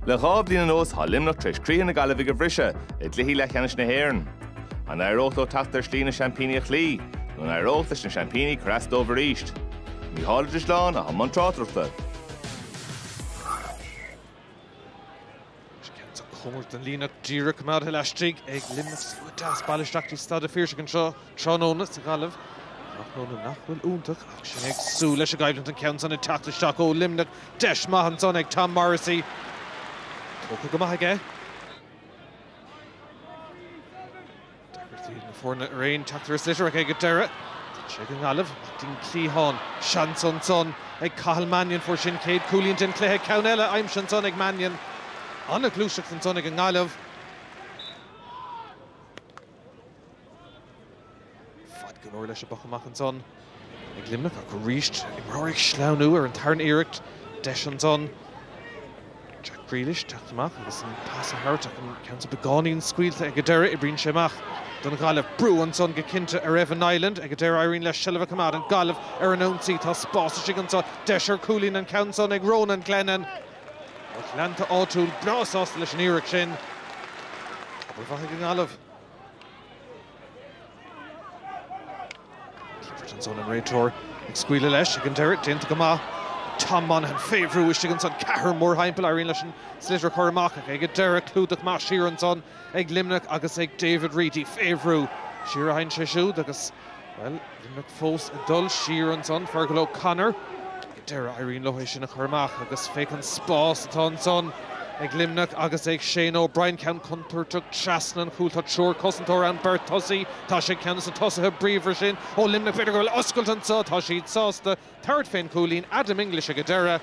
Le dhá bhliain anuas tá Luimneach tar éis croíthe na Gaillimhigh a bhriseadh i gcluichí leathcheannais na hÉireann. An éireodh leo teacht ar slí na seaimpíní a chloí nó an éireodh leis na seaimpíní cur as dóibh aríst? Mícheál Ó Drisleáin, atá i mbun tráchtaireachta. Ceann cóngarach don líne díreach coimeádtha laistigh ag Luimneach sa deas bailithe isteach i Staid an Phiarsaigh anso tráthnóna sa Ghaillimh. Tráthnóna nach bhfuil iontach ach sinn ag súil leis an gcoimhlint an ceann san ag teacht isteach ó Luimneach. Deis maith ansan ag Tom Morrissey. Tógtha go maith aige. Tagairtí do na foirne araon, teachtaireacht litreach ag an deireadh. D'fhan sé go nGaillimh, ach ding cliathán. Seans ansan ag Cathal Mannion. Fuair sé an chéad cúilín den chluiche. Ceann eile aimsithe ansan ag Mannion. Ana-ghluaiseacht ansan ag an nGaillimh. Faid go leor leis an bpoc amach ansan. ag Luimneach ach arís imreoirí ag sleamhnú ar an tarna iarracht. Deis ansan ag Jack Grealish teacht amach agus an pas a thabhairt ach an ceann so beagáinín scaoilte ag an deireadh. Oibríonn sé amach don Ghaillimh. Brú ansan go cinnte ar Evan Niland ag an deireadh. Éiríonn leis seilbh a choimeád. An Ghaillimh ar an ionsaí. Tá spás istigh ansan. Deis ar cúilín an ceann san ag Ronan Glennon. Lucht leanta áitiúil breá sásta leis an iarracht sin. Obair mhaith ag an nGaillimh. Clifford ansan, an réiteoir ag scaoileadh leis ag an deireadh, déanta go maith. Tom Monaghan, fé bhrú istigh ansan, ceathrar mórthimpeall, éiríonn leis an sliotar a chur amach ach ag an deireadh, clúdach maith siar ansan ag Luimneach agus ag David Reidy, fé bhrú siar a théann sé siúd agus, bhuel, Luimneach fós ag dul siar ansan. Fergal O'Connor. Deireadh, éiríonn leo é sin a chur amach agus féach an spás atá ansan ag Luimneach agus ag Shane O'Brien. Ceann contúirteach trasna an chúil. Tá triúr cosantóir ann, beirt tosaí. Tá sé ag ceann des na tosaithe bríomhara sin ó Luimneach. B'fhéidir go bhfuil oscailt anso. Tá siad sásta tabhairt fén chúilín. Adam English ag an deireadh.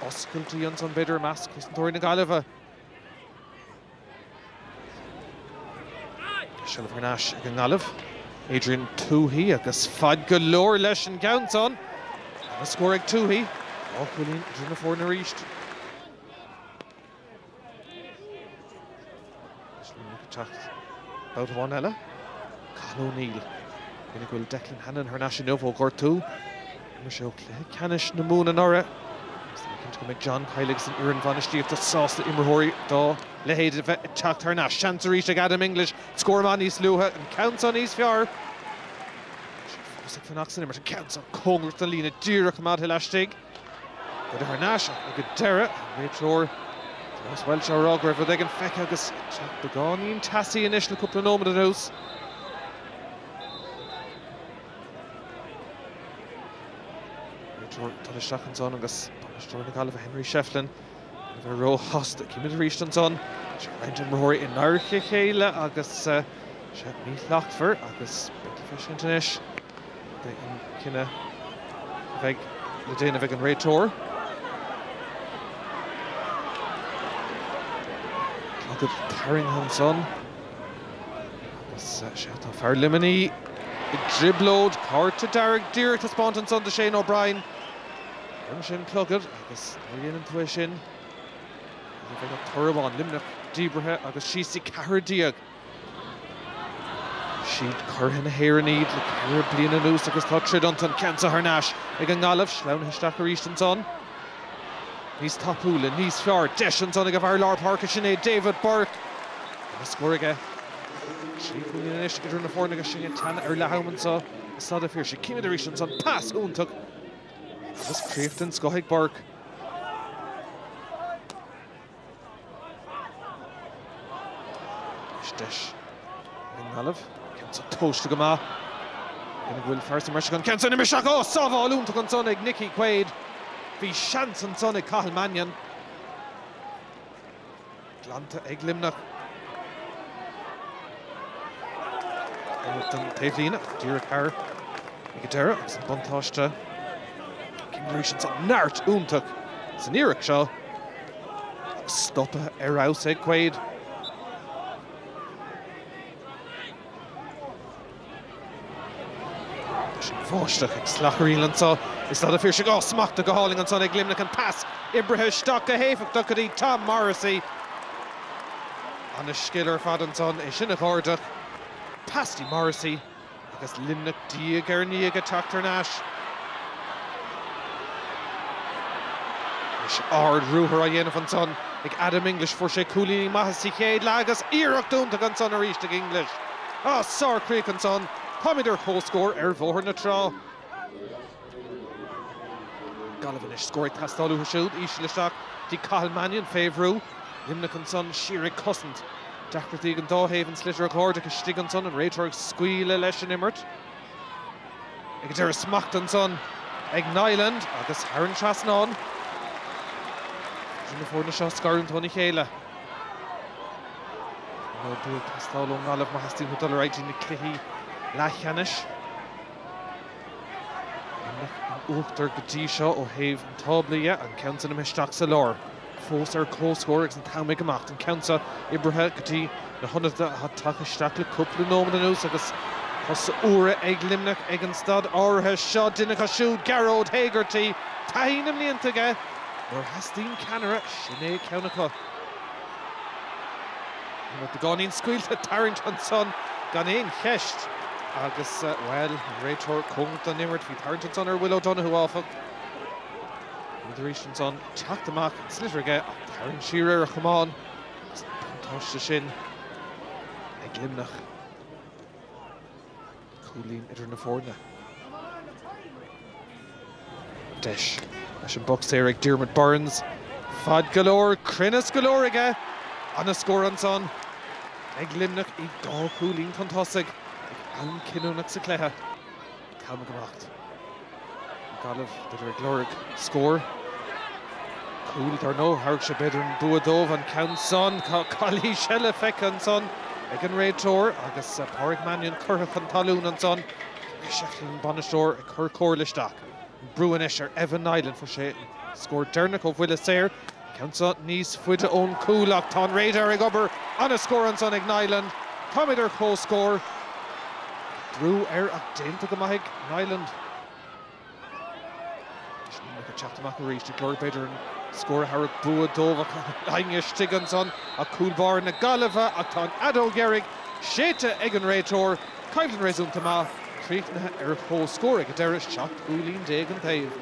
Oscailtí ansan b'fhéidir i measc cosantóirí na Gaillimhe. Seilbh thar n-ais ag an nGaillimh, Adrian Tuohy agus faid go leor leis an gceann san agus scór ag Tuohy, dhá chúilín idir na foirne arís. Sliotar ag teacht babhta amháin eile, Cathal O'Neill, cinnte go bhfuil Declan Hannon thar n-ais inniu ó ghortú. D'imir sé cluiche ceannais na Mumhan anuraidh agus táim cinnte go mbeidh John Kiely agus an fhoireann bhainistíochta sásta imreoirí dá leithéid a bheith ag teacht thar n-ais. Seans arís ag Adam English scór amú níos luaithe, an ceann seo níos fearr. Tá sé fós ag fanacht san imirt, an ceann seo cóngarach don líne, díreach coimeádtha laistigh. Cuireadh thar n-ais ach ag an deireadh, an réiteoir Thomas Walsh á rá go raibh rud éigin feicthe agus ag teacht beagáinín teasaí anois le cúpla nóiméad anuas. Beirt dul isteach ansan agus bainisteoir na Gaillimhe Henry Shefflin le bheith róshásta. Címid arís ansan. Tá roinnt imreoirí in adharca a chéile agus seo míshlachtmhar agus beidh le feiscint anois cad é an cinneadh a bheidh le déanamh ag an réiteoir. Clogad tarraingthe ansan. Is ea, tá fear Luimnigh i dtrioblóid. Cárta dearg díreach taispeánta ansan do Shane O'Brien. Tharraing sé an clogad agus nuair a dhéanann tú é sin ní bheidh ach toradh amháin, Luimneach díbrithe agus síos dtí ceathrar déag. Siad curaidh na hÉireann iad le ceithre bliana anuas agus tá troid iontu, an ceann san thar n-ais ag an nGaillimh, sleamhnaithe isteach arís ansan. Níos tapúla, níos fearr. Deis ansan ag fear lár páirce. Sin é David Burke. Tá scór aige. Trí chúilín anois idir na foirne agus sinn ag teannadh ar leath am anseo i Staid an Phiarsaigh. Címid arís ansan. Pas iontach agus críoch den scoth ag Burke. Anois deis ag an nGaillimh. Ceann san tomhaiste go maith. Cuimhnigh go bhfuil fear sa mbreis ansin. Ceann san imithe isteach. Ó! Sábháil iontach ansan ag Nickie Quaid. Bhí seans ansan ag Cathal Mannion. Glanta ag Luimneach. Imithe don taobhlíne. Díreach thar ag an deireadh agus an buntáiste. Címid arís ansan. Neart iontach san iarracht seo. Stoptha ar fheabhas ag Quaid. Is an bháisteach ag slacharaíl anso i Staid an Phiarsaigh. Á, smachtaithe go hálainn ansan ag Luimneach. An pas oibrithe isteach go héifeachtach go dtí Tom Morrissey. Ana-scil ar fad ansan é sin a chuardach. Pas dtí Morrissey. Agus Luimneach diaidh ar ndiaidh ag teacht thar n-ais, is ard-ruathar á dhéanamh ansan ag Adam English. Fuair sé cúilíní maithe sa chéad leath agus iarracht iontach ansan arís ag English. Á, sárchríoch ansan. Táimid ar comhscór ar Bhóthar na Trá. Gaillimh anois. Scór ag teastáil uathu siúd. Íseal isteach dtí Cathal Mannion. Fé bhrú. Luimneach ansan. Siar ag cosaint. Deacrachtaí ag an dá thaobh. An sliotar a chuardach istigh ansan. An réiteoir ag scaoileadh leis an imirt. Ag an deireadh. Smacht ansan ag Niland agus thar an trasnán. Ní féidir na foirne seo a scarúint óna chéile. Nó bua ag teastáil ón nGaillimh má theastaíonn uathu dul ar aghaidh dtí na cluichí leathcheannais. An lucht in uachtar go dtí seo ó thaobh an tábla dhe, an ceann san imithe isteach sa lár. Fós ar comhscór agus an t-am ag imeacht, an ceann seo oibrithe go dtí na hionadaithe atá tagtha isteach le cúpla nóiméad anuas agus cosa úra ag Luimneach ag an staid áirithe seo. Duine acu siúd Gearóid Hegarty taithí na mblianta aige nuair a theastaíonn ceannaire, sin é ceann acu. Bhí beagáinín scaoilte tarraingt ansan gan aon cheist agus, bhuel, an réiteoir cóngarach don imirt. Bhí tarraingt ansan ar Will O'Donoghue, áfach. Rud arís ansan teacht amach an sliotar aige ach tarraingt siar ar a chamán agus an buntáiste sin ag Luimneach. cúilín idir na foirne. Deis leis an bpoc saor ag Diarmaid Byrnes. Faid go leor, cruinneas go leor aige! Ana scór ansan ag Luimneach iad dhá chúilín chun tosaigh ag am cinniúnach sa chluiche. Calma go maith. Gaillimh, b'fhéidir, ag lorg scóir. Cúl, dar ndóigh. Thabharfadh sé, b'fhéidir, an bua dóibh an ceann san. Tá calaois eile feicthe ansan ag an réiteoir agus Pádraig Mannion curtha chun talún ansan. Féach Shefflin, an bainisteoir, ag cur comhairle isteach. An brú anois ar Evan Niland. Fuair sé an scór deireanach ó bhuille saor. Ceann so níos faide ón gcúl ach tá an radar ag obair. Ana scór ansan ag Niland. Táimid ar comhscór. Brú air ach déanta go maith ag Niland. Deis mhór acu teacht amach arís i gcomhair. B'fhéidir an scór a thabharfadh bua dóibh ach daingean istigh ansan ach cúl báire na Gaillimhe ach tá an fheadóg dheiridh séidte ag an réiteoir. Coimhlint réasúnta maith críochnaithe ar comhscór ag an deireadh, seacht gcúilín déag an taobh.